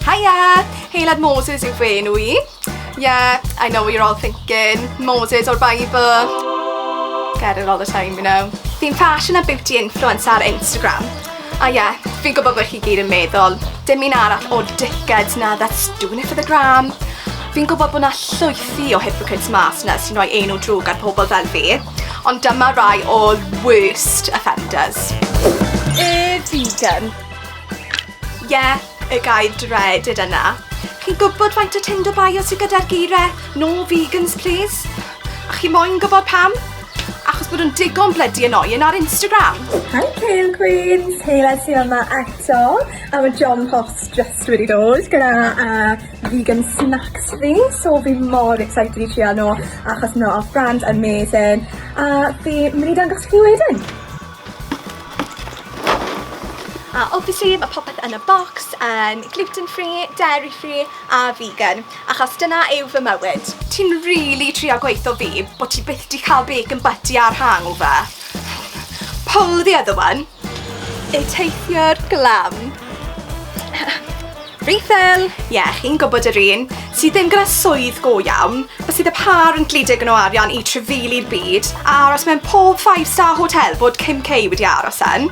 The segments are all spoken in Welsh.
Haia! Heilad Moses yw fy enw i. Yeah, I know what you're all thinking. Moses o'r Bible. Get it all the time, you know. Fi'n fashion a beauty influencer ar Instagram. A ie, yeah, fi'n gwybod bod chi gyd yn meddwl, dim un arall o dickheads na that's doing it for the gram. Fi'n gwybod bod na llwythi o hypocrites mas na sy'n rhoi enw drwg ar pobl fel fi, ond dyma rai o'r worst offenders. Y vegan. Ie, y gair dreaded yna. Chi'n gwybod faint o Tinder bio sy gyda'r geiriau 'No vegans please'? A chi moyn gwybod pam? Achos bod nhw'n digon blydi annoying ar Instagram! Hi Kale Queens, Hela ti yma eto a mae John Post just wedi dod gyda uh, vegan snacks fi so fi mor excited i trio nhw achos nhw off brand amazing a fi mynd i dangos chi wedyn. A obviously mae popeth yn y bocs yn gluten free, dairy free a vegan achos dyna yw fy mywyd. Ti'n rili trio gweutho fi bo' ti byth 'di cael bacon butty a'r hangover? Pull the other one. Y teithiwr glam. Rhyfel! Ie, chi'n gwybod yr un, sydd ddim gyda swydd go iawn, a sydd â phâr yn gludo digon o arian i trefeili'r byd, a aros mewn pob five star hotel fod Kim K wedi aros yn.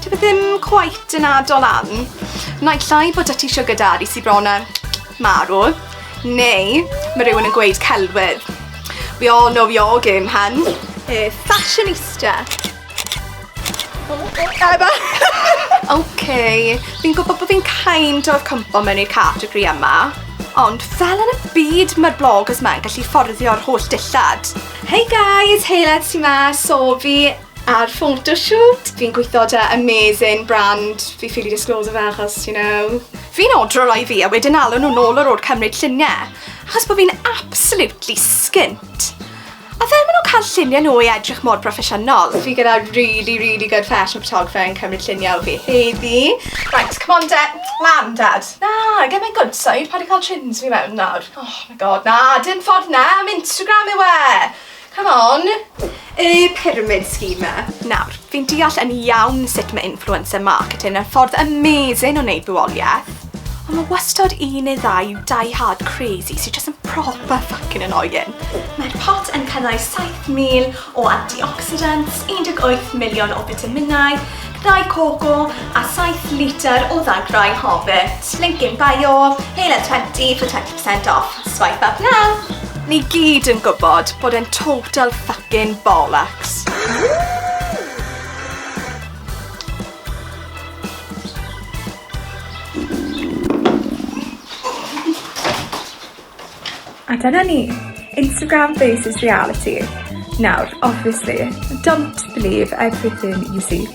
Dyw e ddim cweit yn addo lan. Naill ai bod 'da ti siwgr dadi sy bron a marw, neu ma' rhywun yn gweud celwydd. We all know your game, hun. Yy, fashionista. Eba! OK, fi'n gwybod bod fi'n kind of cwmpo mewn i'r category yma, ond fel yn y byd mae'r bloggers ma'n gallu fforddio'r holl dillad. Hey guys, Heiled sy'n ma, so fi ar photoshoot. Fi'n gweithio da amazing brand, fi ffili disclose fe achos, you know. Fi'n odro roi fi a wedyn alw nhw'n ôl yr o'r cymryd lluniau, achos bod fi'n absolutely skint. A fel ma' nhw'n cael lluniau nhw i edrych mor broffesiynol. Fi gyda really, really good fashion photographer yn cymryd lluniau o fi heddi. Right, come on de, lan dad. Na, get my good side, paid a cael chins fi mewn nawr. Oh my god, na, dim ffordd na, am Instagram yw e! Come on. Y pyramid scheme 'ma. Nawr, fi'n deall yn iawn sut ma' influencer marketing yn ffordd amazing o wneud fywolieth, Ond mae wastad un neu ddau die-hard crazy sydd jyst yn proper fucking annoying. Mae'r pot yn cynnwys 7,000 o antioxidants, 18 miliwn o fitaminau, ddau coco a 7 litr o ddagrau Hobbit. Link in bio, Hale at 20 for 20% off. Swipe up now! Ni gyd yn gwybod bod e'n total fucking bollocks. A dyna ni. Instagram faces reality. Nawr, obviously, don't believe everything you see.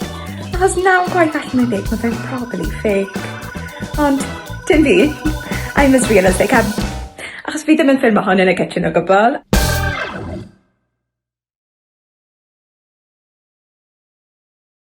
Achos nawr gwaith allan yn deg, mae fe'n probably fake. Ond, dim fi. I'm as real as they come. Achos fi ddim yn ffilm hon yn y kitchen o gwbl.